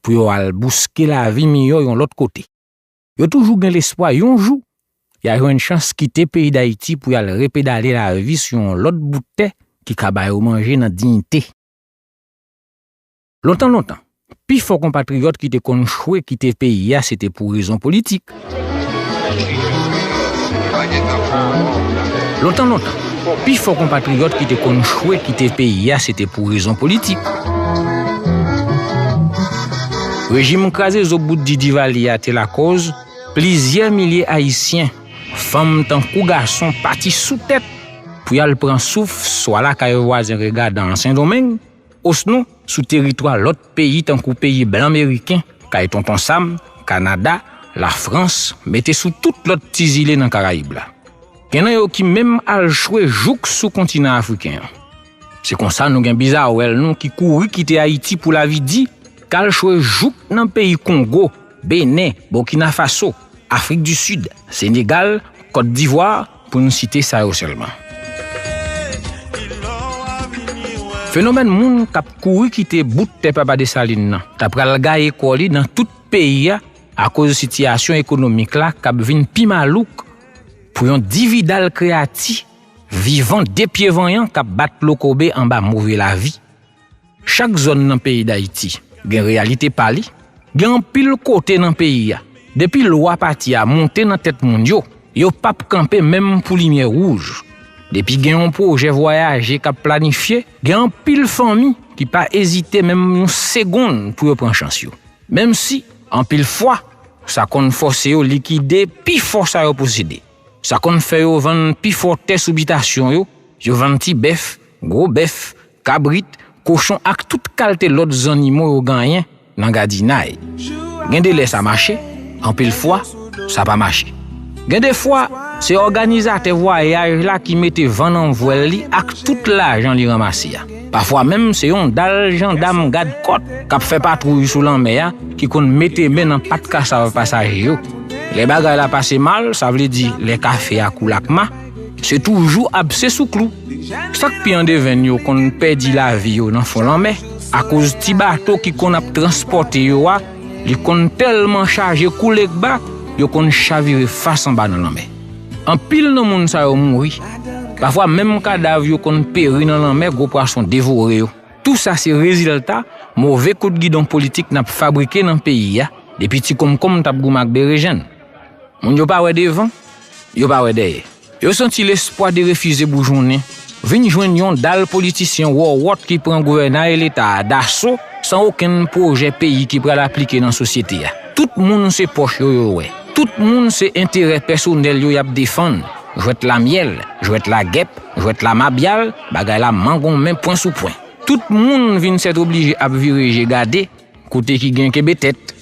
pou yo al bouske lavi miyò yon lòt kote. Yo toujou gen lespwa yon jou ya jwenn chans kite peyi Dayiti pou yal repedale lavi sou yon lòt bout tè ki ka ba yo manje nan diyite. Lontan lontan, pifò konpatriyòt ki te konn chwe kite peyi ya se te pou rezon politik. Lontan lontan, pi fò konpatriyòt ki te konn chwe kite peyi a se te pou rezon politik. Rejim kraze zo bout di Divalye a te lakòz plizyè milye Ayisyen, fanm tankou gason, pati sou tèt pou y al pran souf swa lakay vwazen Regadan an Sendomeng, osnon sou teritwa lòt peyi tankou peyi blan meriken, kay Tonton Sam, Kanada, Lafrans, mete sou tout lòt ti zile nan Karayib la. Gen nan yo ki menm al chwe jouk sou kontinan afriken an. Se konsa nou gen bizawèl nou ki kouri kite Ayiti pou lavi di, k al chwe jouk nan peyi Kongo, Benen, Boukinafaso, Afrik di Sid, Senegal, Kotdivwa, pou nou site sa yo sèlman. Fenomèn moun k ap kouri kite bout tè Papa Desalin nan ta pral gaye kò li nan tout peyi a akoz sitiyasyon ekonomik la k ap vin pi malouk pou yon dividal kreyati vivan de pye vanyan k ap bat lokobe anba move lavi. Chak zòn nan peyi Dayiti gen reyalite pa li, gen anpil kote nan peyi a depi lwa pati a monte nan tèt moun yo, yo pap kanpe menm pou limyè wouj. Depi gen yon pwojè vwayaje kap planifye gen anpil fanmi ki pa ezite menm yon segonn pou yo pran chans yo, menm si anpil fwa sa konn fòse yo likide pi fò sa yo posede, sa konn fè yo vann pi fò tè sou bitasyon yo, yo vann ti bèf, gwo bèf. Kabrit, kochon ak tout kalte lòt zannimo yo ganyen nan gadinay. Gen de lè sa mache, anpil fwa, sa pa mache. Gen de fwa, se òganizatè vwayaj la ki mete van nan vwèl li ak tout lajan li ranmase a. Pafwa menm se yon dal jandam gad kòt k ap fè patwouy sou lanmè a ki konn mete men nan pat kasav pasaje yo. Lè bagay la pase mal, sa vle di lè kafe a koule ak ma, Se toujou abse sou klou. Sa k pi andevenn yo konn pèdi lavi yo nan fon lanmè akoz ti bato ki konn ap transpòte yo a, li konn tèlman chaje kou legba, yo konn chavire fas anba nan lanmè. Anpil nan moun sa yo mouri, pafwa menm kadav yo konn peri nan lanmè gwo pwason devore yo. Tou sa se rezilta move kout gidon politik n ap fabrike nan peyi a depi ti konmkonm t ap goumen ak berejenn. Moun yo pa wè devan, yo pa wè dèyè. Yo santi lespwa derefize boujonnen, vin jwenn yon dal politisyen wòwòt ki pran gouvènay Leta a daso san okenn pwojè peyi ki pral aplike nan sosyete a. Tout moun se pòch yo yo wè. Tout moun se enterè pèsonèl yo y ap defann. Jwèt la myèl, jwèt la gèp, jwèt la mabyal, bagay la mangonmen pwen sou pwen. Tout moun vin sètoblije ap vire je gade Kote ki gen kenbe tèt.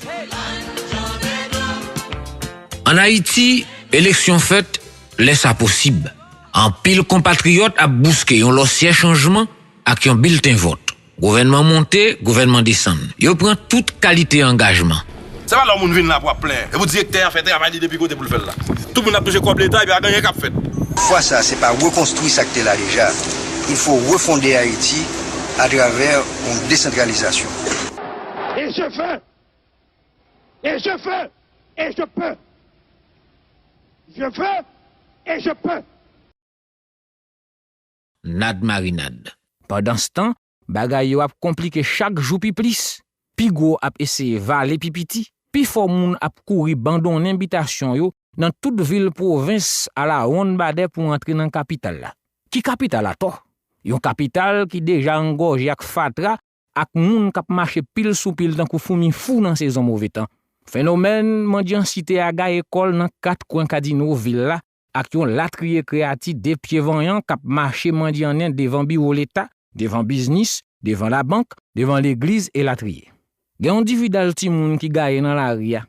An Ayiti, eleksyon fèt lè sa posib. Anpil konpatriyòt ap bouske yon lòsyè chanjman ak yon bilten vòt. Gouvènman monte, gouvènman desann. Yo pran tout kalite angajman. Se pa lè yon moun vin la pou ap plenyen. Se pou direktè an fè travay li depi kote pou l fè l la. Tout moun ap touche kòb leta epi pa gen anyen k ap fèt. Fwa sa, se pa rekonstwi sa k te la deja. Ilfo refonde Ayiti atravè. pou desantralizasyon. Et je veux! Et je veux! Et je peux! Je veux! Et je peux! Nad marinade. Pandanstan, bagay yo ap konplike chak jou pi plis. Pi gwo ap eseye vale pi piti. Pifò moun ap kouri bandonnen bitasyon yo nan tout vil pwovens alawonn badè pou antre nan kapital la. Ki kapital atò? Yon kapital ki deja angòje ak fatra ak moun k ap mache pil sou pil tankou foumi fou nan sezon move tan. Fenomèn mandyansite a gaye kò l nan kat kwen kadino vil la ak yon latriye kreyati de pye vanyan k ap mache mandyannen devan biwo leta, devan biznis, devan labank, devan legliz elatriye. Gen yon dividal timoun ki gaye nan lari a,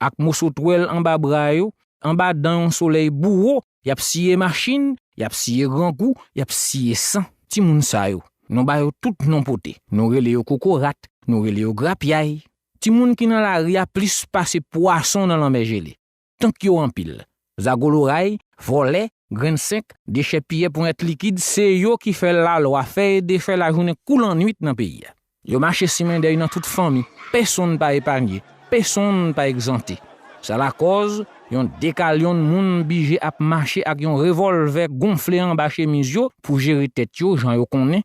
ak moso twèl anba bra yo, anba dan yon solèy bouwo, y ap siye machin, y ap siye grangou, y ap siye san. Timoun sa yo, nou ba yo tout non pote. Nou rele yo kokorat, nou rele yo grapyay. Timoun ki nan lari a plis pase pwason nan lanmè jele. Tank yo anpil. Zago loray, vòlè, grenn senk, dechèpiyè ponyèt likid se yo ki fè lalwa fè e defè lajounen kou lannuit nan peyi a. Yo mache simen dèy nan tout fanmi, pesonn pa epanye, pesonn pa egzante. Sa lakòz, yon dekalyonn moun bije ap mache ak yon revòlvè gonfle anba chemiz yo pou jere tèt yo jan yo konnen,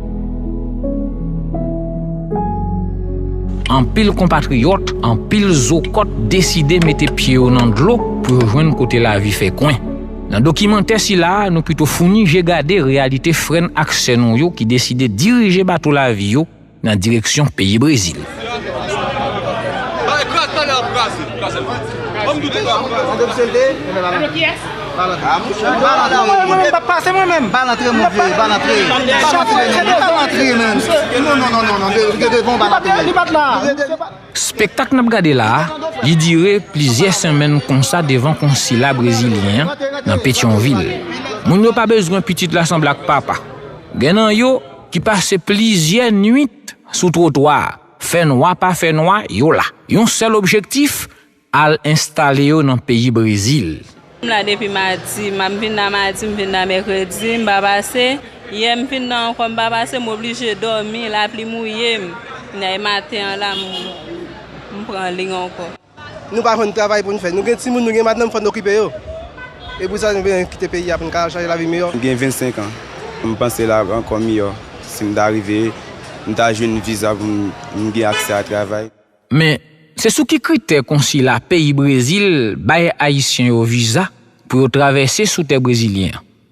Anpil konpatriyòt, anpil zokòt deside mete pye yo nan dlo pou yo jwenn kote lavi fè kwen. Nan dokimantè sila a, nou pito founi je gade reyalite frè n ak sè nou yo ki deside dirije bato lavi yo nan direksyon peyi Brezil. Spektak n ap gade la a, li dire plizyè senmenn konsa devan konsila brezilyen an nan Petyonvil. Moun yo pa bezwen pitit la sanble ak papa. Gen nan yo ki pase plizyè nwit. nwit sou twotwa a, fè nwa pa fè nwa, yo la. Yon sèl objektif, al enstale yo nan peyi Brezil. M la depi madi, m ap vin la madi, m vin la mèkredi, m pa pase. Yè m vin la ankò, m pa pase, m oblije dòmi, lapli mouye m. Kounye a e maten an la m pran liy ankò. Nou pa jwenn travay pou n fè. Nou gen timoun, nou gen madanm fò n okipe yo. E pou sa nou vle kite peyi a pou n ka al chache lavi miyò? M gen 25 an. M panse l ap ankò miyò si m ta rive, m ta jwenn viza pou m gen aksè a travay. Men, se sou ki kritè konsila peyi Brezil bay Ayisyen yo viza pou yo travèse sou tè brezilyen an?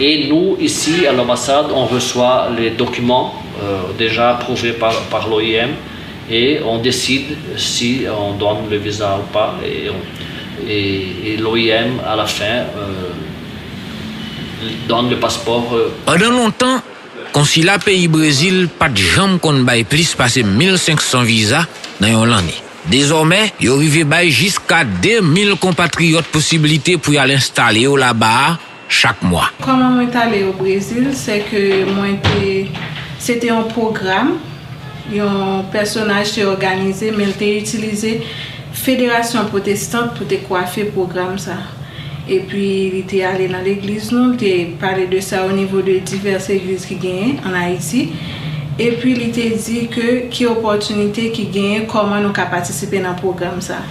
E nou isi a l'ambassade on reswa le dokiman deja aprouve par l'OIM e on deside si on donne le visa ou pa e l'OIM a la fin donne le passeport. Pandan lontan, konsila peyi Brezil pa t janm konn bay plis pase 1500 viza nan yon lanne. Dezòmè, yo rive bay jiska 2000 konpatriyòt posiblite pou y al enstale yo laba a, chak mwa. Kòman mwen tale o Brezil sè ke mwen te se te yon pwogram yon pèsonaj te òganize men l te itilize federasyon pwotestant pou te kwafe pwogram sa epi li te ale nan legliz nou l te pale de sa o nivo de divès egliz ki genyen an Ayiti epi li te di ke ki opòtinite ki genyen kòman nou ka patisipe nan pwogram sa.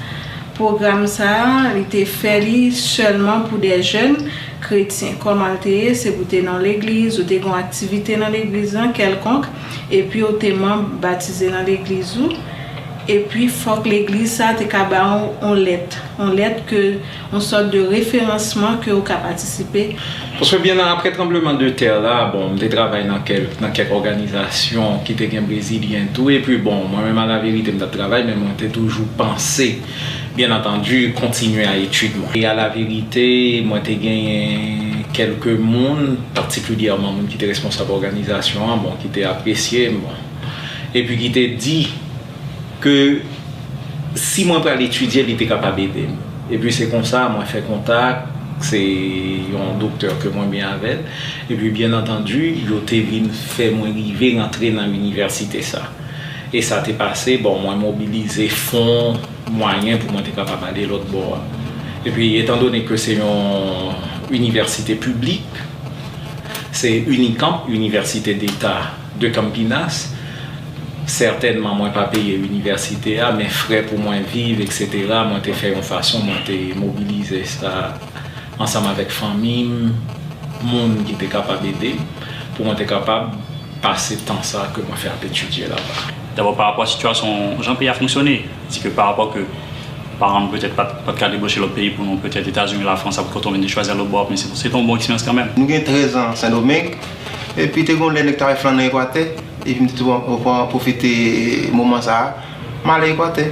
Pwogram sa a, li te fè li sèlman pou de jèn kretyen. Kòman l te ye? Se pou w te nan yon legliz, ou te gen yon aktivite nan legliz lan kèlkonk, epi ou te manb batize nan legliz ou, epi fòk legliz sa a te ka ba ou yon lèt, yon lèt ke, yon sòt de referansman ke ou ka patisipe. Paske byen nan apre tranbleman de tè la, bon, m te travay nan kèlk, nan kèk òganizasyon ki te gen brezilyen tou, epi bon, mwen menm alaverite m t ap travay, men mwen te toujou panse, byen antandi, kontinye a etid mwen. E alaverite, mwen te genyen kèlke moun, patikilyèman moun ki te responsab òganizasyon an, bon, ki te apresye m, bon, epi ki te di. Ke si mwen pral etidye li te kapab ede m. Epi se konsa mwen fè kontak, se yon doktè ke mwen byen avè l. Epi byen antandi yo te vin fè mwen rive rantre nan inivèsite sa. E sa te pase, bon mwen mobilize fon, mwayen pou mwen te kapab ale lòtbò a. Epi etan done ke se yon inivèsite piblik, se Unicamp, inivèsite deta De Campinas, Sètènman mwen pa peye inivèsite a, men frè pou mwen viv, eksetera, mwen te fè yon fason mwen te mobilize sa ansanm avèk fanmi m, moun ki te kapab ede m, pou mwen te kapab pase tan sa ke mwen fè ap etidye laba. Dabò pa rapò a sitiyasyon jan peyi a fonksyone, di ke pa rapò ke paran m petèt pa t ka debouche lòt peyi pou nou, petèt Etazini, Lafrans, sa pou t kontan, mwen te chwazi al lòt bò a, men se te yon bon eksperyans kanmenm. Nou gen 13 an Sendomeng, Epi te gen yon lè nèg ta al flann nan Ekwatè, epi m te tou pran pwofite moman sa a, m ale Ekwatè.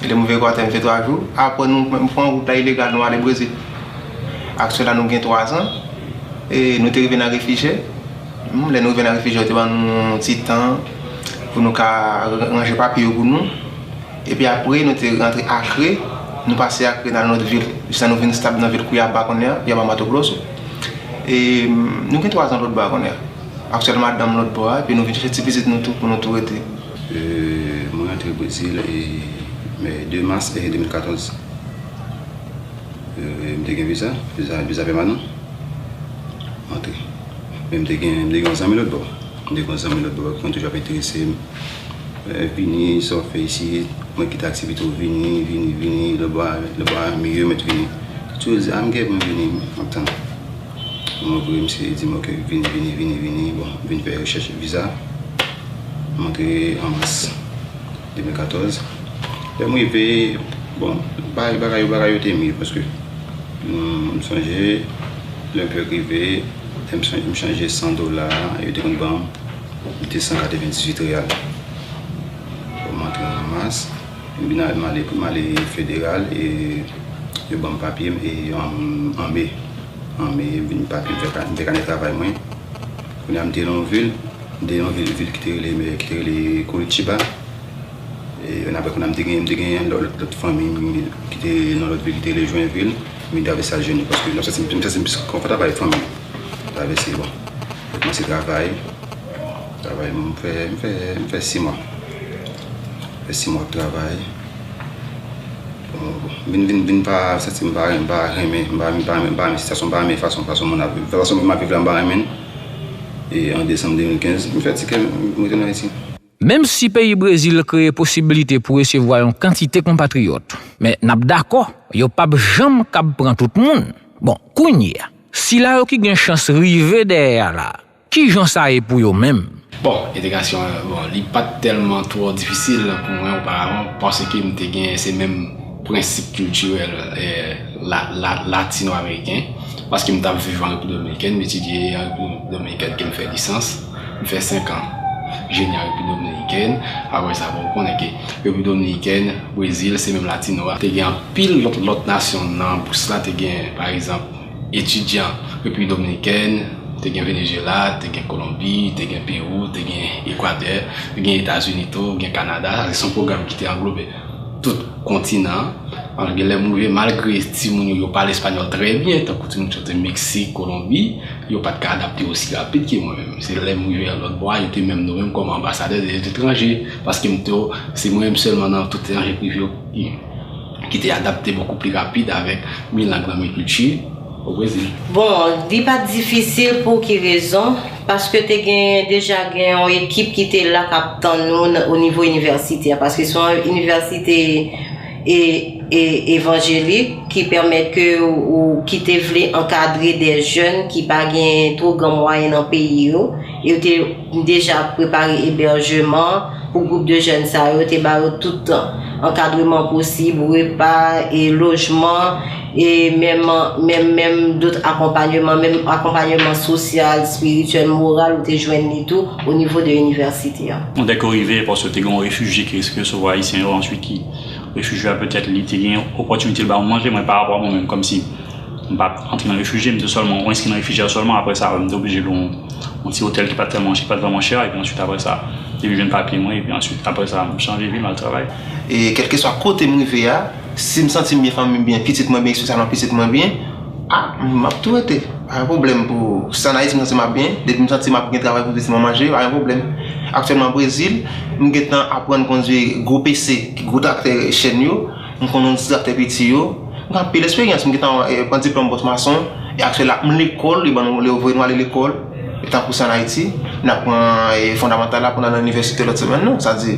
Lè m rive Ekwatè m fè 3 jou, apre nou m pran wout la ilegal nou ale Brezil. Ak sila nou gen 3 zan, e nou te rive nan refijè, lè nou rive nan refijè yo te ban nou yon ti tan pou nou ka ranje papye yo pou nou, epi apre nou te rantre Akre, nou pase Akre nan lòt vil, jiska nou vin stab nan vil Kouyaba kounye a, Kouyaba Mato Grosso. e nou gen 3 zan lòt bò a kounye a ak sèl madanm lòt bò a epi nou vin chèche ti pitit nou tou pou nou tou rete. Mwen rantre Brezil 2 mas 2014 m te gen viza, viza pèmanan m antre men m te gen yon zanmi lòt bò m te gen yon zanmi lòt bò ki konn toujou ap enterese m Vini sa w fè isit mwen ki ta di pito vini vini vini lè bagay a miyò mèt vini li toujou di I'm gèt mwen vini map tann m antre misye di m ok vini vini vini vini bon m vin fè rechèch viza m antre an mas 2014 lè m rive bon bagay bagay yo bagay yo te miyò paske m sonje lè m fèk rive m chanje 100 dola yo te konn banm 298 real pou m antre nan mas m vin al mande pou m ale federal e yo ban m papye m e an me an me m vin papye m fè kanè travay mwen kounye a m te nan yon vil m te nan yon vil vil ki te rele ki te rele Curitiba e yon apre kounye a m te gen m te gen yon lòt fanmi ki te nan lòt vil ki te rele Joinville m vin travel sa jeni paske m santi m plis konfòtab avèk fanmi m Travèse bon mwen kòmanse travay Travay m fè m fè m fè simwa M fè simwa ap travay Vin vin vin pa santi m pa m pa renmen m pa m pa m pa renmen sityasyon m pa renmen fason fason moun ap viv fason moun ap viv la m pa renmen l E an desanm 2015 m fè tikè m m rete nan Ayiti Menm si peyi Brezil kreye posibilite pou resevwa yon kantite konpatriyòt, men n ap dakò yo p ap janm kab pran tout moun. Bon, kounye a, sila yo ki gen chans rive dèyè a la, ki jan sa ye pou yo menm? Bon, entegrasyon an, bon, li pa t tèlman twò difisil pou mwen oparavan paske m te gen se menm prensip kiltirèl latino-ameriken paske m t ap viv an Repiblik Dominikèn, m etidye an Repiblik Dominikèn ke m fè lisans. M fè 5 an jeni an Repiblik Dominikèn, apre sa bon ou konnen ke Repiblik Dominikèn, Brezil se menm latino a. Te gen anpil lòt lòt nasyon nan bous la, te gen pa egzanp etidyan Repiblik Dominikèn, te gen Venezyela, te gen Kolonbi, te gen Pewou, te gen Ekwatè, te gen Etazini tou, gen Kanada, sa se son pwogram ki te anglobe. tout kontinan an. An gen lè m rive malgre timoun yo yo pale espanyòl trè byen tankou timoun ki soti Meksik, Kolonbi, yo pa t ka adapte osi rapid ke mwen menm. Se lè m rive an lòtbò a yo te menm nome m kòm anbasadè de letranje paske m te se mwen menm sèlman nan tout etranje prive yo ki te adapte bokou pli rapid avèk mi lang nan mi kilti o Brezil. Bon, li pa t difisil pou ki rezon? Paske te gen deja gen yon ekip ki te la k ap tann nou nan o nivo inivèsite a. Paske se yon inivèsite e evanjelik ki pèmèt ke ou ki te vle ankadre dè jèn ki pa gen two gran mwayen nan peyi yo. E yo te deja prepare ebèjeman pou gwoup de jèn sa yo, te ba yo tout ankadreman posib, repa e lojman. E menm, menm, menm dot akonpanyeman, menm akonpanyeman sosyal, espirityèl, moral ou te jwenn li tou o nivo de inivèsite a? Bon, dèke w rive, paske te gen yon refijye ki riske resevwa Ayisyen yo answit ki, refijye a petèt li te gen opòtinite l ba ou manje, mwen pa rapò a mwen menm, kòmsi m pa t antre nan refijye, m te sèlman, ou enskri nan refijye a sèlman, apre sa m te oblije lwe yon, yon ti otèl ki pa t tèlman, ki pa t vrèman chè a, epi answit apre sa, depi m jwenn papye mwen, epi answit apre sa m chanje vi, m al travay. E kèlkeswa kote m rive a. Si m santi m byen, fanmi m byen, pitit mwen byen, espesyalman pitit mwen byen, a, m ap tou rete. Pa gen pwoblèm pou, si an Ayiti m santi m ap byen, depi m santi m ap gen travay pou pitit mwen manje, pa gen pwoblèm. Aktyèlman Brezil, m gen tan aprann kondwi gwo PC, gwo traktè chèn yo, m kondwi yon ti traktè piti yo. M gen anpil esperyans, m gen tan pran diplòm bòs mason. E aktyèl la, m lekòl, yo ban nou, yo voye nou ale lekòl, tankou se an Ayiti, n ap pran fondamantal la pou n al nan inivèsite lòt semèn nan. Sa di.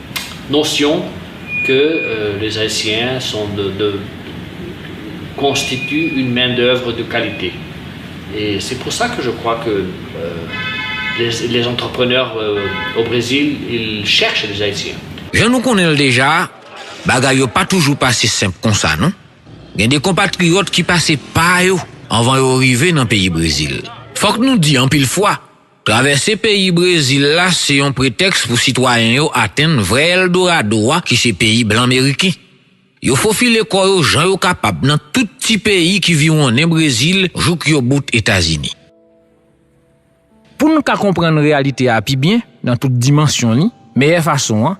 Notion que les Haïtiens sont de de constituent une main d'œuvre de qualité et c'est pour ça que je crois que les les entrepreneurs au Brésil ils cherchent des Haïtiens. Jan nou konnen l deja, bagay yo pa toujou pase senp konsa non. Gen de konpatriyòt ki pase pa yo anvan yo rive nan peyi Brezil. Fòk nou di anpil fwa, Travèse peyi Brezil la se yon pretèks pou sitwayen yo atenn vrè Eldorado a ki se peyi blan meriken. Yo fofile kò yo jan yo kapab nan tout ti peyi ki viwonnen Brezil jouk yo bout Etazini. Pou n ka konprann reyalite a pi byen nan tout dimansyon li, meyè fason an,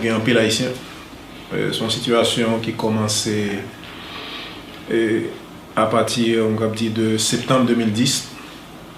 Gen anpil ayisyen, se yon sitiyasyon ki kòmanse apati, mwen kab di, de septanm 2010.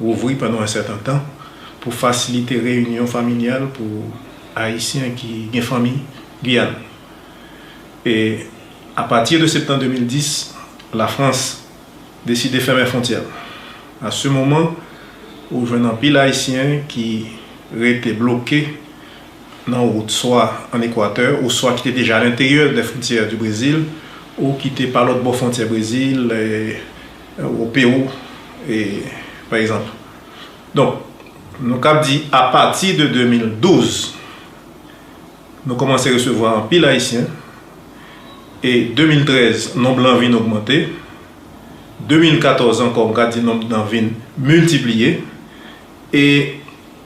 Rouvri pandan yon sètan tan pou fasilite reyinyon familyal pou Ayisyen ki gen fanmi Guyàn. E apati de septan 2010, Lafrans deside fèmen fwontyè l. A se moman ou jwenn anpil Ayisyen ki rete bloke nan wout swa an Ekwatè ou swa ki te deja alenteryè dè fwontyè di Brezil ou ki te pa lòtbò fwontyè Brezil, Ou Pewou pa egzanp. Donk nou kab di apati de 2012 nou kòmanse resevwa anpil ayisyen e 2013 nonb lan vin ogmante 2014 ankò m ka di nonb nan vin miltipliye e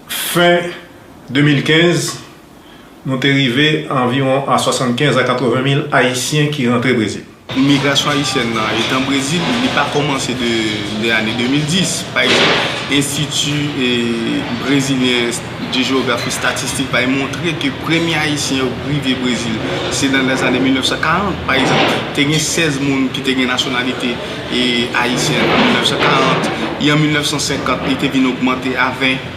fen 2015 nou te rive anviwon a 75 a 80 mil Ayisyen ki rantre Brezil. Imigrasyon ayisyèn nan etan Brezil, li pa kòmanse de ane 2010. Pa egzanp, Enstiti Brezilyen de Jewografi Estatistik bay montre ke premye Ayisyen yo rive Brezil se nan lèzane 1940. Pa egzanp, te gen 16 moun ki te gen nasyonalite ayisyen an 1940, e an 1950 li te vin ogmante a 20.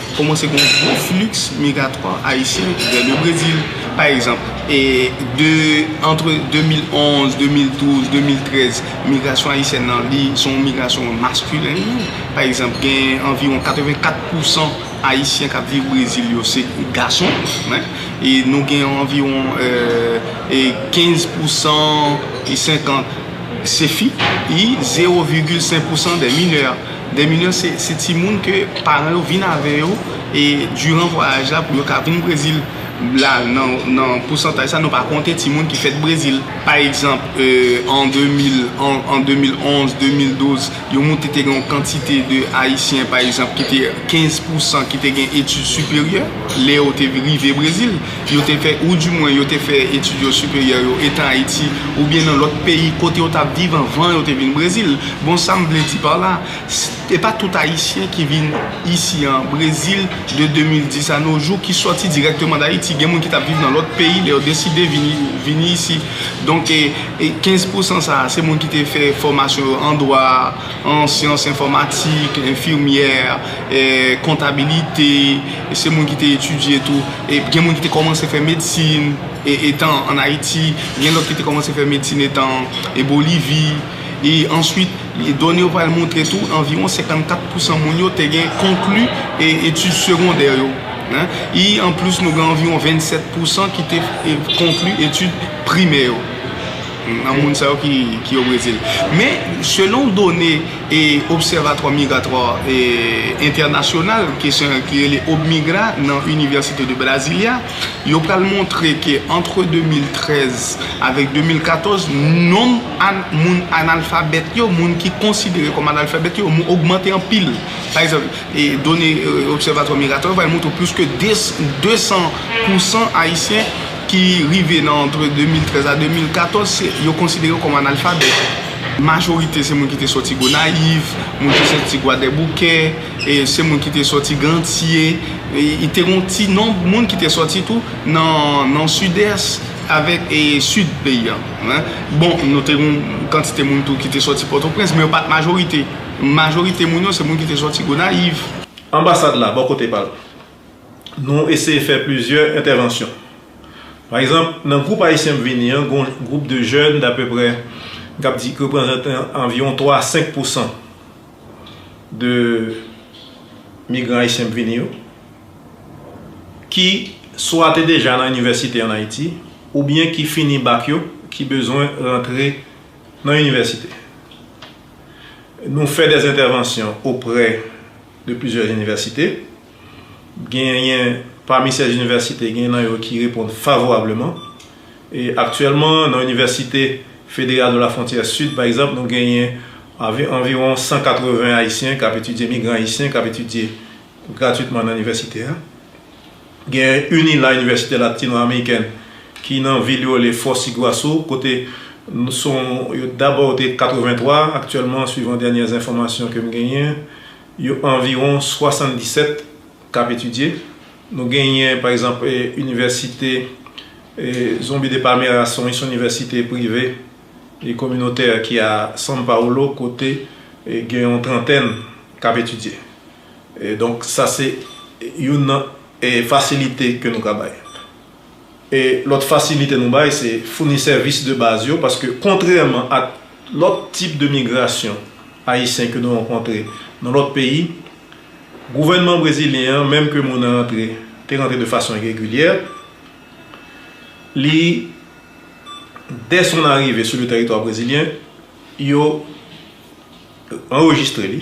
Kòmanse gen yon gwo fliks migratwa ayisyen ki vè le Brezil, pa egzanp, e de antre 2011, 2012, 2013, migrasyon ayisyèn nan li se yon migrasyon maskilen, pa egzanp, gen anviwon 84 pousan ayisyen k ap viv Brezil yo se gason, e nou gen anviwon 15 pousan, 50 se fi, e zewo vigil senk pousan de minè. Des millions se timoun ke paran yo vin avè yo e diran vwayaj la pou yo ka vin Brezil la nan pousantaj sa nou pa konte timoun ki fèt Brezil. Pa egzanp an 2011, 2012 yo moute te gen yon kantite de ayisyen pa egzanp ki te 15 pousan ki te gen etid siperyè lè yo te rive Brezil. yo te fè ou di mwen yo te fè etid yo siperyè yo etan Ayiti oubyen nan lòt peyi kote yo tap viv anvan yo te vin Brezil. Bon sa m vle di par la, e pa tout Ayisyen ki vin isi an Brezil de 2010 a no jou ki sòti dirèkteman d'Ayiti. Gen moun ki tap viv nan lòt peyi lè yo deside vini vini isi. Donk 15 pousan sa a se moun ki te fè fòmasyon yo an dwa, an syans enfòmatik, enfimyè, kontabilite, se moun ki te etidye tou, gen moun ki te kòmanse fè medsin etan an Ayiti, gen lòt ki te kòmanse fè medsin etan an Bolivi. E answit, done yo pral montre tou anviwon 54 pousan moun yo te gen konkli etid segondè yo. E anplis nou gen anviwon 27 pousan ki te konkli etid primè yo. Nan moun sa yo ki yo Brezil. Men, selon done Observatoire Migratoire International, kesyon ki rele OBMIGRA nan Université de Brasilia, yo pral montre ke antre 2013 avèk 2014, nonb moun analfabèt yo, moun ki konsidere kòm analfabèt yo, ogmante anpil. Pa egzanp, done Observatoire Migratoire yo pral montre plis ke 200 pousan Ayisyen, ki rive nan antre 2013 a 2014 se yo konsidere yo kòm analfabèt. Majorite se moun ki te sòti Gonayiv, moun ki sòti Gwadèboukè, se moun ki te sòti Gantye. E te gen yon ti nonb moun ki te sòti tou nan Sidès avèk Sid peyi a. Bon, nou te gen yon kantite moun tou ki te sòti Pòtoprens, men yo pa t majorite. Majorite moun yo se moun ki te sòti Gonayiv. Anbasad la, bò kote pa l. nou eseye fè plizyè entèvansyon. Pa egzanp, nan gwoup ayisyen m vini an, gen yon gwoup de jèn dapeprè m kab di ki reprezante anviwon 3 a 5 pousan de migran ayisyen k vini yo, ki swa te deja nan inivèsite an Ayiti oubyen ki fini bak yo ki bezwen rantre nan inivèsite. Nou fè dèzentèvansyon oprè de plizyè inivèsite. Genyen pami sèz inivèsite, genyen nan yo ki reponn favorableman. E aktyèlman, nan Inivèsite Federal de la Frontière Sud, pa egzanp, nou genyen anviwon 180 Ayisyen k ap etidye, migran ayisyen k ap etidye gratwitman nan inivèsite a. Genyen UNILA, Université Latino-Américaine, ki nan vil yo rele Foz Iguaçu, kote nou son, yo dabò yo te 83, aktyèlman, swivan dènyè enfòmasyon ke m genyen, Yo anviwon 77 k ap etidye. Nou genyen pa egzanp inivèsite Zumbi de Palmera se yon inivèsite prive e kominotè ki a San Paolo kote gen yon trantèn k ap etidye. Donk sa se youn nan fasilite ke nou ka bay. E lòt fasilite nou bay se founi sèvis de baz yo paske kontrèman ak lòt tip de migrasyon ayisyen ke nou rankontre nan lòt peyi, gouvènman brezilyen an menm ke moun nan rantre te rantre de fason iregilyè, li dè son arive sou le tèritwa brezilyen yo anrejistre li.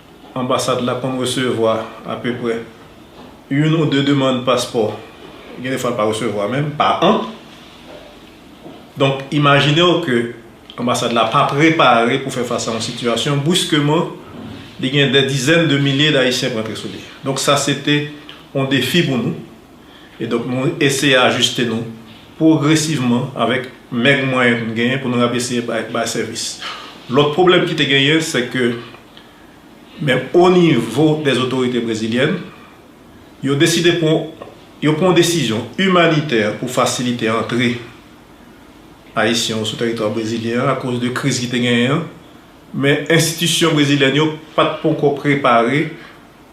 Anbasad la konn resevwa apeprè youn ou de demann paspò, gen defwa l pa resevwa menm, pa an. Donk, imajine w ke anbasad la pa prepare pou fè fas a yon sitiyasyon, briskeman, li gen dè dizèn de milye dAyisyen k rantre sou li. Donk sa se te yon defi pou nou. E donk nou eseye ajiste nou pwogresivman avèk mèg mwayen nou genyen pou nou ap eseye bay sèvis. Lòt pwoblèm ki te genyen se ke. Men o nivo dè otorite brezilyèn, yo deside pran yo pran yon desizyon imanitè pou fasilite antre Ayisyen yo sou teritwa brezilyen an akoz de kriz ki te genyen an. Men enstitisyon brezilyèn yo pa t ponkò prepare.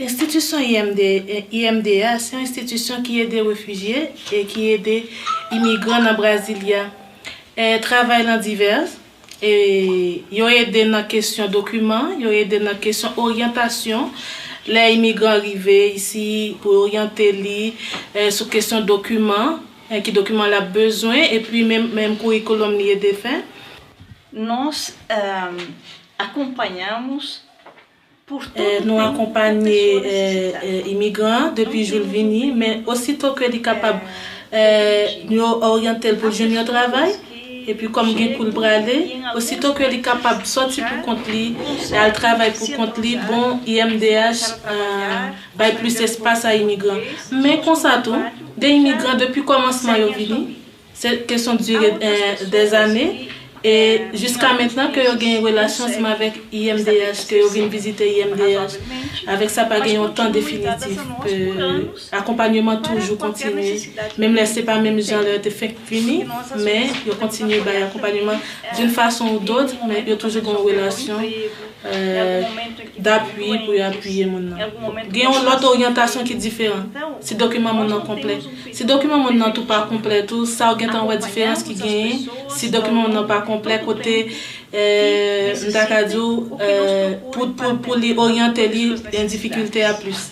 Enstitisyon IMDH se yon enstitisyon ki ede refijye e ki ede imigran nan Brasilia. Travay lan divès, yo ede nan kesyon dokiman, yo ede nan kesyon oryantasyon lè imigran rive isi pou yo oryante li sou kesyon dokiman, ki dokiman l ap bezwen epi menm kourikoulòm li ede fè. Nos acompañamos Nou akonpanye imigran an depi jou l vini, men osito ke li kapab, nou yo oryante l pou l jwenn yon travay, epi kòm gen kou l prale, osito ke li kapab sòti pou kont li, al travay pou kont li, bon, IMDH bay plis espas a imigran. Men konsa tou, gen imigran depi kòmansman yo vini, Se kesyon dure des années e jiska mentnan ke yo gen relasyon seman avèk IMDH ke yo vin vizite IMDH. Avèk sa pa gen yon tan definitif ke akonpanyeman toujou kontinye menm lè se pa menm jan lè yo te fenk vini men yo kontinye bay akonpanyeman d'une façon ou d'autre men yo toujou gen yon relasyon d'apui pou yo apuye moun nan. Gen yon lòt oryantasyon ki diferan si dokiman moun nan konplè. Si dokiman moun nan tou pa konplè tou, sa ou gentan wè diferans ki genyen si dokiman moun nan pa konplè kote m ta ka di w pou li oryante li gen difikilte a plis.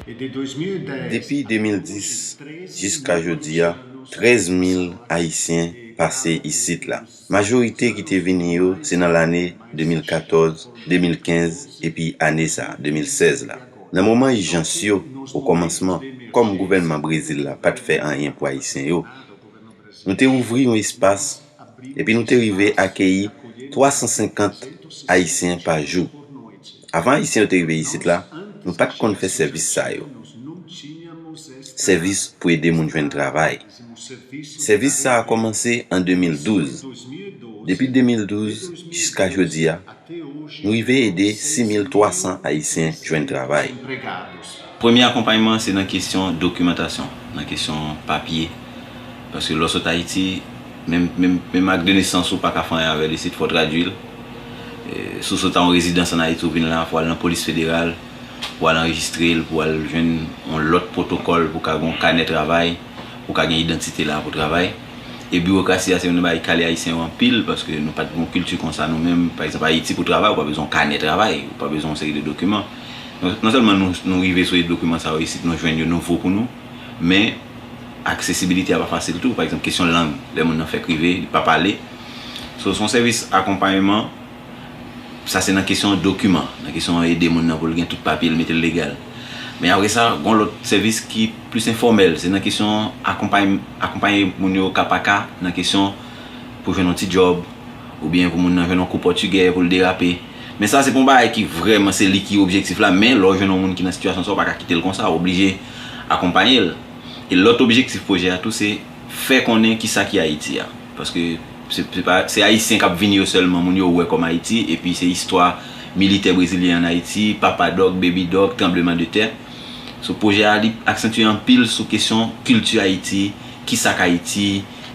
Depi 2010 jiska jodi a, 13 mil ayisyen pase isit la. Majorite ki te vini yo se nan lane 2014, 2015 epi ane sa, 2016 la. Nan moman ijans yo, okòmansman, kòm gouvènman Brezil la pa t fè anyen pou Ayisyen yo, nou te ouvri yon espas epi nou te rive akeyi 350 Ayisyen pa jou. Avan Ayisyen yo te rive isit la, nou pa t konn fè sèvis sa yo, sèvis pou ede moun jwenn travay. Sèvis sa a kòmanse an 2012. Depi 2012 jiska jodi a, nou rive ede 6,300 Ayisyen jwenn travay. Premye akonpayman an se nan kesyon dokimantasyon, nan kesyon papye. Paske lè w sot Ayiti, menm ak de nesans ou pa ka fè anyen avè l isit, fò w tradui l. Si w sot a yon rezidans ann Ayiti, ou vin la, fò w al nan polis federal. pou al anrejistre l, pou al jwenn yon lòt pwotokòl pou ka gen yon kanè travay, pou ka gen idantite la pou travay. E biwokrasi a se youn nan bagay ki kale Ayisyen yo anpil paske nou pa t gen yon kilti kon sa nou menm. Pa egzanp, Ayiti pou travay ou pa bezwen yon kanè travay, ou pa bezwen yon seri de dokiman. Non sèlman nou rive sou dokiman sa yo isit, nou jwenn yo nouvo pou nou, men aksesibilite a pa fasil tou. Pa egzanp, kesyon lang, lè moun nan fèk rive, li pa pale. So, se yon sèvis akonpayeman. Sa se nan kesyon dokiman, nan kesyon ede moun nan pou l gen tout papye l, mete l legal. Men apre sa, gon lòt sèvis ki plis enfòmèl, se nan kesyon akonpay, akonpaye moun yo ka pa ka nan kesyon pou jwenn yon ti djòb, oubyen pou moun nan jwenn yon kou pòtigè pou l derape. Men sa se pou yon bagay ki vrèman se li ki objektif la, men lè w jwenn yon moun ki nan sitiyasyon sa w pa ka kite l konsa, w oblije akonpaye l. E lòt objektif pwojè a tou se. Fè konnen ki sa ki Ayiti a. Paske se Ayisyen k ap vini yo sèlman moun yo wè kòm Ayiti. Epi se istwa militè brezilyen an Ayiti, Papa Dòk, Baby Dòk, tranbleman de tè. So pwojè a li aksantye anpil sou kesyon kilti Ayiti, ki sa k Ayiti,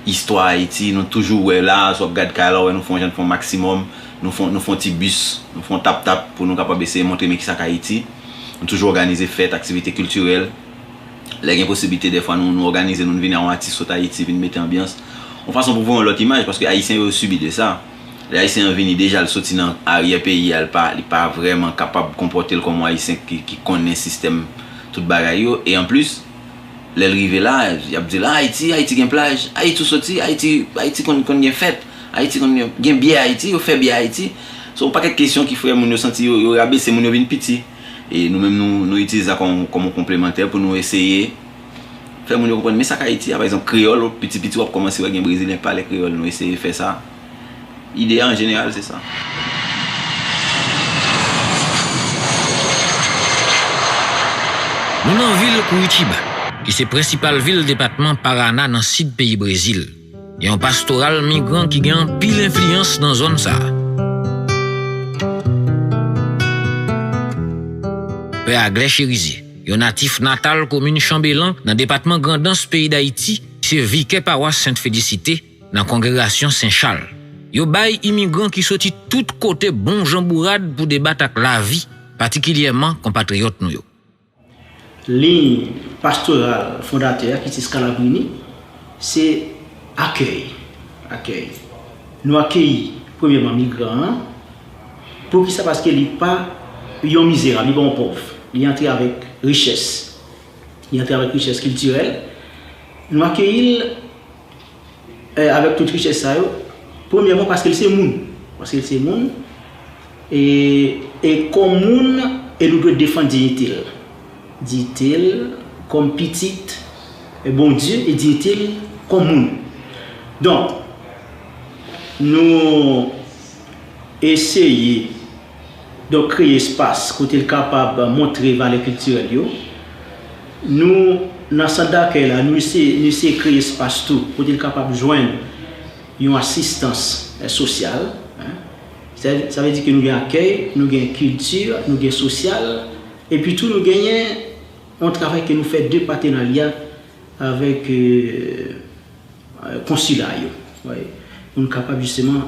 istwa Ayiti. Nou toujou wè la, si w ap gad kay la w wè nou fè yon jan, nou fè yon maksimòm, nou fè yon ti bis, nou fè yon tap tap pou nou kapab eseye montre men ki sa k Ayiti. Nou toujou òganize fèt, aktivite kiltirèl. Lè gen posiblite dèfwa nou nou òganize nou n vini a yon atis sot Ayiti vin mete anbyans. Yon fason pou voye yon lòt imaj paske Ayisyen yo sibi de sa. Lè Ayisyen an vini deja l soti nan aryè peyi a l pa li pa vrèman kapab konpòte l kòm yon Ayisyen ki ki konnen sistèm tout bagay yo e anplis lè l rive la y ap di l a Ayiti Ayiti gen plaj Ayiti ou soti Ayiti Ayiti konn konn gen fèt Ayiti konn gen byè Ayiti yo fè byè Ayiti se yon pakèt kesyon ki fè moun yo santi yo yo rabese moun yo vin piti. E nou menm nou nou itilize sa kòm yon konplemantè pou nou eseye fè moun yo konprann men sa k Ayiti a. Pa egzanp, kreyòl, piti piti w ap kòmanse wè gen Brezilyen k pale kreyòl. Nou eseye fè sa. Ide a an jeneral se sa. Nou nan vil Kouritiba, ki se prensipal vil depatman Parana nan sid peyi Brezil. Yon pastoral migran ki gen anpil enfliyans nan zòn sa a. Pè Aglè Cherizier, yon natif natal komin Chanbelan nan depatman Grandans peyi Dayiti, se vikè pawas Sent Felisite nan kongregasyon Sen Chal. Yo bay imigran ki soti tout kote bon jan bourad pou debat ak lavi, patikilyèman konpatriyòt nou yo. Liy pastoral fondatè a, Kitty Scalabrini, se akèy, accueil. Nou akeyi premyèman migran an. Poukisa? Paske li pa yon mizerab, li pa yon pòv. Li antre avèk richès. Li antre avèk richès kiltirèl. Nou akeyi l. Avèk tout richès sa yo, premyèman paske l se moun, paske l se moun, e kòm moun, e nou dwe defann diyite l, diyite l kòm pitit Bondye e diyite l kòm moun. Donk, nou eseye. donk kreye espas kote l kapab montre valè kiltirèl yo. Nou, nan sant dakèy la, nou eseye, nou eseye kreye espas tou kote l kapab jwenn yon asistans sosyal. Sa, sa vle di ke nou gen akèy, nou gen kilti, nou gen sosyal, epi tou nou genyen yon travay ke nou fè de patenarya avèk. Konsila yo. Pou nou kapab jisteman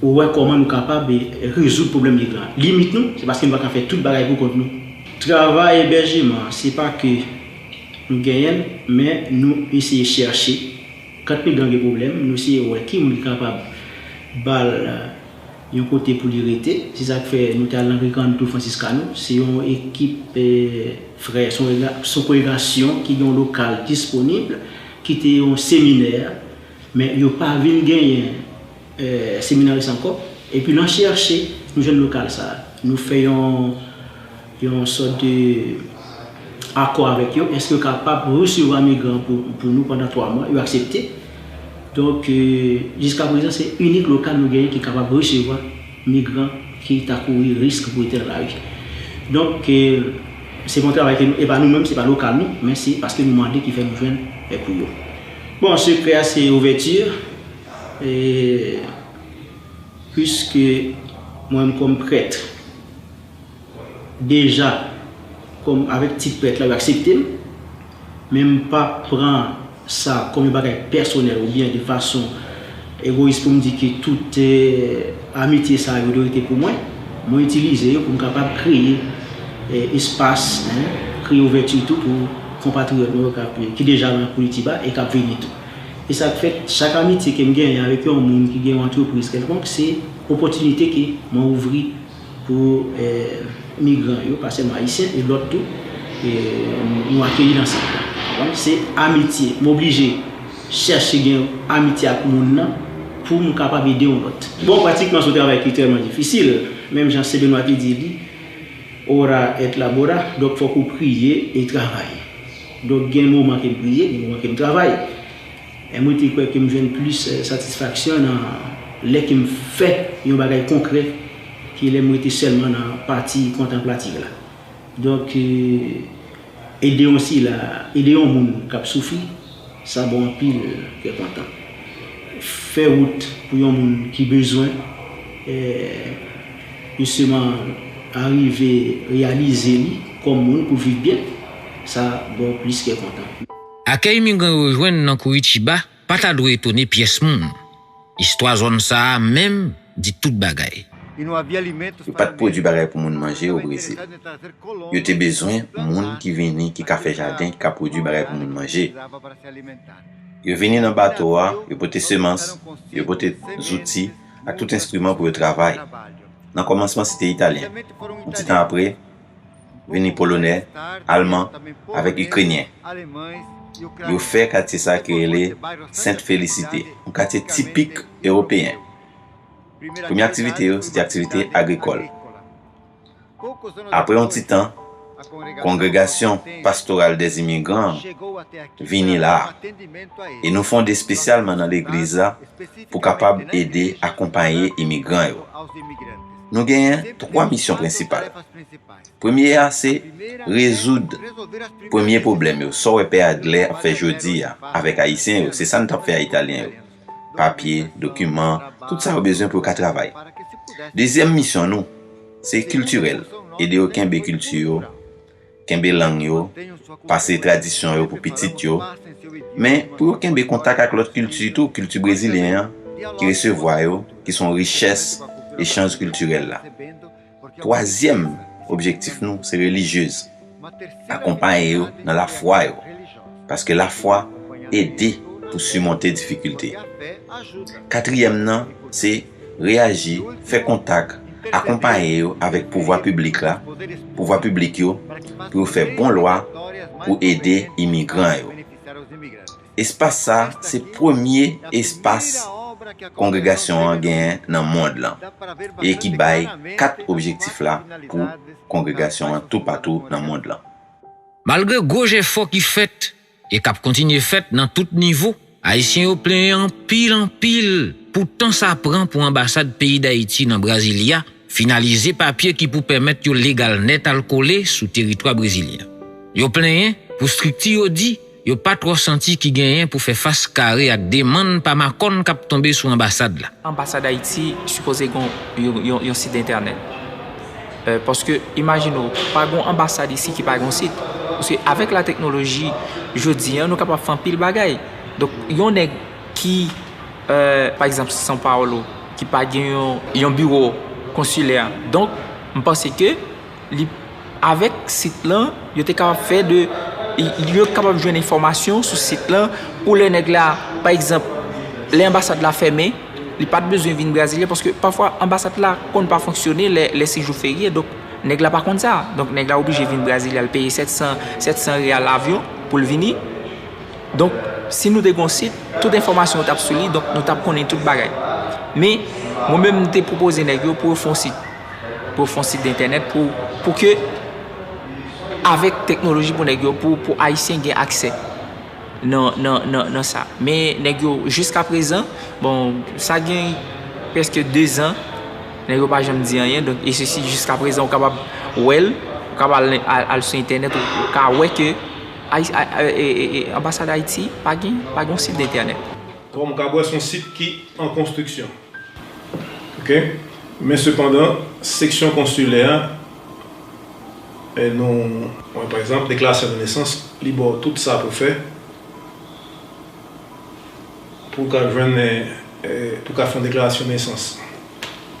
wè kòman nou kapab rezoud pwoblèm migran an. Limit nou, se paske nou pa ka fè tout bagay pou kont nou. Travay ebèjeman an, se pa ke nou genyen l, men nou eseye chèche. Kant migran gen pwoblèm, nou eseye wè ki moun ki kapab ba l. Yon kote pou li rete. Se sa k fè nou te al nan Recanto Franciscano. Se yon ekip frè, se yon kongregasyon ki gen yon lokal disponib ki te yon seminè. Men yo pa vin genyen seminaris ankò. Epi nan chèche, nou jwenn lokal sa a. Nou fè yon. yon sòt de akò avèk yo, èske yo kapab resevwa migran pou nou pandan 3 mwa, yo aksepte. Donk, jiska prezan se inik lokal nou genyen ki kapab resevwa migran ki ta kouri risk pou rete nan lari. Donk, se pa yon travay ke nou, e pa nou menm, se pa lokal nou, men se paske nou mande ki fè nou jwenn pou yo. Bon, sekrè a se ouvèti, e piske mwen menm kòm prèt, Deja kom avek ti prèt la yo aksepte m men m pa pran sa kom yon bagay pèsonèl oubyen de fason egoyis pou m di ke tout amitye sa yo dwe rete pou mwen. Mwen itilize yo pou m kapab kreye espas, kreye ouvèti tou pou konpatriyòt mwen yo ki deja nan Koulitiba e k ap vini tou. E sa k fè chak amitye ke m genyen avèk yon moun ki gen yon antrepriz kèlkonk se opòtinite ke mwen ouvri Pou migran yo, pa sèlman Ayisyen, e lòt tou, nou akeyi nan sant lan. Donk se amitye. M oblije chèche gen amitye ak moun nan pou m kapab ede yon lòt. Bon, pratikman se yon travay ki tèlman difisil. Menm jan Sen Benwa te di li, Ora et labora, donk fòk ou priye e travay. Donk gen moman ke m priye, gen moman ke m travay. M rete kwè ke m jwenn plis satisfaksyon nan lè ke m fè yon bagay konkrè ke lè m rete sèlman nan pati kontanplativ la. Donk, ede yon sila, ede yon moun k ap soufri, sa ba w anpil kè kontan. Fè wout pou yon moun ki bezwen, jisteman, arive reyalize li kòm moun pou l viv byen, sa ba w plis kè kontan. Akèy migran yo jwenn nan Kouritiba pa ta dwe etone pyès moun. Istwa zòn sa a menm di tout bagay. Yo pa t pwodui bagay pou moun manje o Brezil. Yo te bezwen moun ki vini ki ka fè jaden, ki ka pwodui bagay pou moun manje. Yo vini nan bato a, yo pote semans, yo pote zouti ak tout enstriman pou yo travay. Nan kòmansman se te Italyen. Yon ti tan apre. vini Polonè, Alman avèk Ikrenyen. Yo fè katye sa ki rele Sent Felisite, yon katye tipik Ewopeyen. Premye aktivite yo se te aktivite agrikòl. Apre yon ti tan, kongregasyon Pastoral dè Imigran an vini la a, e nou fonde espesyalman nan legliz la pou kapab ede akonpaye imigran yo. Nou genyen 3 misyon prensipal. Premye a se rezoud premye pwoblèm yo, sa w wè Pè Adlè ap fè jodi a avèk Ayisyen yo, se sa n t ap fè a Italyen yo, papye, dokiman, tout sa yo bezwen pou yo ka travay. Dezyèm misyon nou se kiltirèl, ede yo kenbe kilti yo, kenbe lang yo, pase tradisyon yo pou pitit yo, men pou yo kenbe kontak ak lòt kilti tou, kilti brezilyen an ki resevwa yo, ki son richès echanj kiltirèl la. Twazyèm objektif nou se relijyez, akonpaye yo nan lafwa yo, paske lafwa ede pou simonte difikilte. Katriyèm nan se. reyaji, fè kontak, akonpaye yo avèk pouvwa piblik la, pouvwa piblik yo, pou yo fè bon lwa pou ede imigran yo. Espas sa a se premye espas kongregasyon an genyen nan mond lan e ki bay kat objektif la pou kongregasyon an toupatou nan mond lan. Malgre gwo jefò ki fèt, e kap kontinye fèt nan tout nivo. Ayisyen yo plenyen anpil anpil pou tan sa pran pou anbasad peyi Dayiti nan Brasilia finalize papye ki pou pèmèt yo legal nèt al kole sou teritwa brezilyen. Yo plenyen pou strikti yo di yo pa twò santi ki genyen pou fè fas kare ak demann pa makòn kap tonbe sou anbasad la. Anbasad Ayiti sipoze gon yon sit entènèt. Paske imajine w, pa gen yon anbasad isi ki pa gen yon sit. Paske avèk la teknoloji jodi an, nou kapab fè anpil bagay. Donk, yon nèg ki, pa egzanp, San Paolo, ki pa gen yon biwo konsilè. Donk, m panse ke li, avèk sit lan, yo te kapab fè de, yo te kapab jwenn enfòmasyon sou sit lan pou lè nèg la, pa egzanp, lè anbasad la fèmen. Li pat bezwen vin Brasilia paske pafwa anbasad la konn pa fonksyone lè se jou ferye donk nèg la pa konn sa donk nèg la oblije vin Brasilia l peye 700 real avyon poul vini donk si nou te gon sit tout enfòmasyon tap sou li donk nou tap konnen tout bagay men mwen menm m te pwopoze nèg yo pou yo fon sit pou yo fon sit de entènèt pou ke avèk teknoloji pou nèg yo pou ayisyen gen aksè. nan sa. Men nèg yo jiska prezan, bon sa gen preske 2 zan, nèg yo pa janm di anyen, donk e sesi jiska prezan ou kapab wèl, ou kapab al sou entènèt ou ka wè ke anbasad Ayiti pa gen, pa gen yon sit entènèt. Kòm ou kapab wè son sit ki an konstriksyon. Ok. Men sepandan seksyon konsilè a E nou wè pa egzanp deklarasyon de nesans li ba w tout sa pou fè pou w ka jwenn pou w ka fè yon deklarasyon de nesans.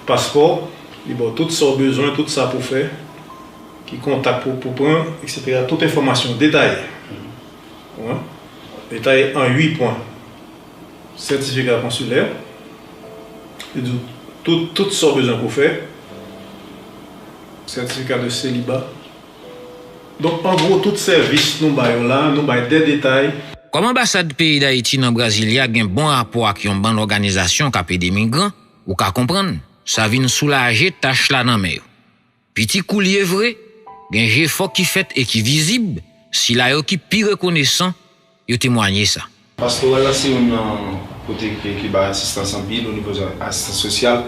Paspò li ba w tout sa w bezwen, tout sa pou w fè, ki kontak pou w pran eksetera tout enfòmasyon detaye. Detaye an 8 pwen. sètifika konsilè, li di w tout sa w bezwen pou fè, sètifika de seliba. Donk an gwo tout sèvis nou bay yo la, nou bay de detay. Kòm anbasad peyi Dayiti nan Brasilia gen bon rapò ak yon bann òganizasyon k ap ede migran, ou ka konprann, sa vin soulaje tach la nan men yo. Piti kou l ye vre, gen jefò ki fèt e ki vizib, sila yo ki pi rekonesan yo temwanye sa. Pastoral la se youn nan kote ke ki bay asistans anpil o nivo asistans sosyal,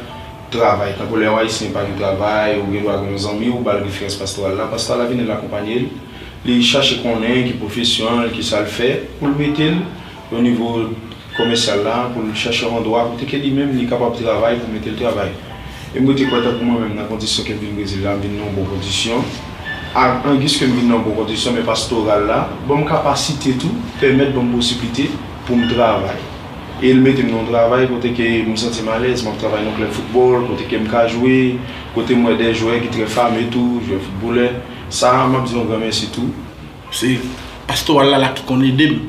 travay. Tankou lè yon Ayisyen pa gen travay, ou gendwa gen yon zanmi ou ba l referans pastoral la, pastoral la vini l akonpanye l, li chache konnen ki pwofesyon l, ki sa l fè, pou l mete l. Yon nivo komèsyal la pou l chèche yon andwa kote ke li menm li kapab travay pou mete l travay. E m rete kwè tankou mwen menm nan kondisyon ke m vin Brezil la m vin nan yon bon kondisyon ak anguis ke m vin nan yon bon kondisyon men pastoral la ban m kapasite tou pèmèt ban m posiblite pou m travay e l mete m nan yon travay kote ke m santi m alèz m ap travay nan yon klèb foutbòl kote ke m ka jwe kote m wè de jwè ki trè fame tou jwè foutbolè sa a m ap di yon gran mèsi tou Se pastoral la la ki konn ede m.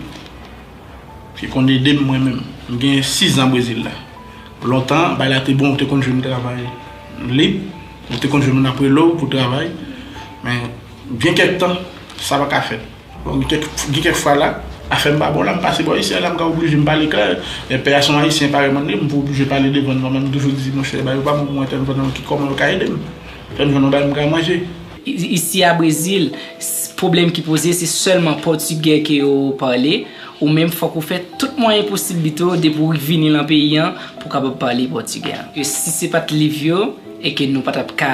Ki konn ede m mwen menm. M gen 6 zan Brezil la. Lontan, bay la te bon ou te konn jwenn travay lib. Ou te konn jwenn moun ap rele w pou travay. Men, gen kèk tan, sa pa ka fèt. Bon, gen kèk fwa la, afè m pa bon la, m pase bò ayisyen an la, m ka oblije m pale klè. Lè pè a se yon ayisyen parèy mwen li, m pou oblije pale devan l. Mwen menm m toujou di, monchè, ba yo ba m yon entèvènan ki kòman yo ka ede m. Fè m jwenn yon bagay m ka manje. Isi a Brezil, pwoblèm ki poze se sèlman pòtigè ke yo pale, ou menm fòk ou fè tout mwayen posiblite yo depi ou vini lan peyi an pou kapab pale pòtigè. Si se pat liv yo, e ke nou pa tap ka,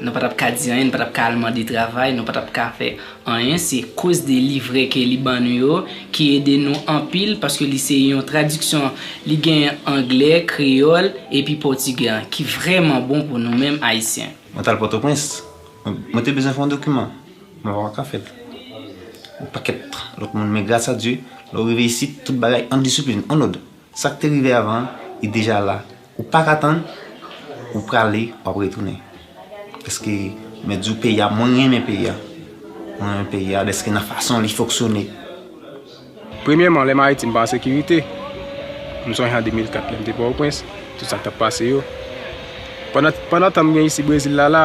nou pa tap ka di anyen, nou pa tap ka al mande travay, nou pa tap ka fè anyen, se koz de livre ke li ban nou yo ki ede nou anpil paske li se yon tradiksyon, li gen anglè, kreyòl, epi pòtigè an ki vrèman bon pou nou menm ayisyen. Mwen t al Pòtoprens. Mwen te bezwen fè yon dokiman. Mwen pa ka fè l. Yon pakèt lòt moun. Men gras a Dye, lè ou rive isit, tout bagay an disiplin, an lòd. Sa k te rive avan an, li deja la. Ou pa ka tann, ou prale, w ap retounen. Dèske mwen di w peyi a, mwen renmen peyi a. Mwen renmen peyi a dèske nan fason li foksyone. Premyèman, lè Maritim pa an sekirite, m sonje an 2004 lè m te Pòtoprens, tout sa k t ap pase yo. Pandan tan m gen isi Brezil la la,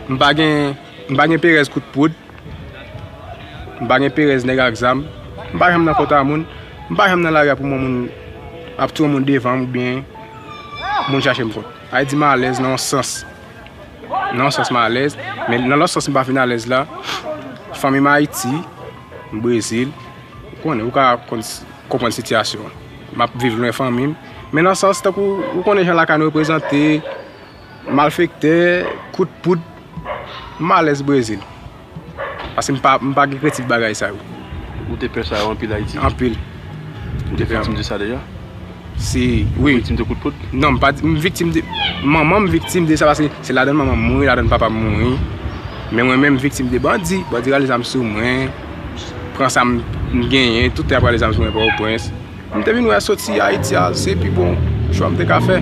m pa gen, m pa gen perèz kout poud, m pa gen perèz nèg ak zam, m pa janm nan kont a moun, m pa janm nan lari a pou m wè moun ap touye moun devan m oubyen moun chache m kont. Sa vle di m alèz nan yon sans, nan yon sans m alèz, men nan lòt sans m pa fin alèz la, fanmi m Ayiti. Brezil, ou konnen, ou ka konprann sitiyasyon an. M ap viv lwen fanmi m. Men nan sans tankou, ou konnen jan lakay nou reprezante, malfektè, kout poud, m alèz Brezil. Paske m pa gen kretif bagay sa yo. Ou te pè sa yo anpil Ayiti? Anpil. Ou te viktim de sa deja? Se wi. Ou viktim de kout poud? Non m pa di, m viktim de, manman m viktim de sa paske se ladan manman m mouri, ladan papa m mouri. Men mwen menm m viktim de bandi, bandi rale zam sou mwen, pran sa m genyen, tout ap rale zam sou mwen Pòtoprens. M te vin wè soti Ayiti a se pi bon chwa m te ka fè.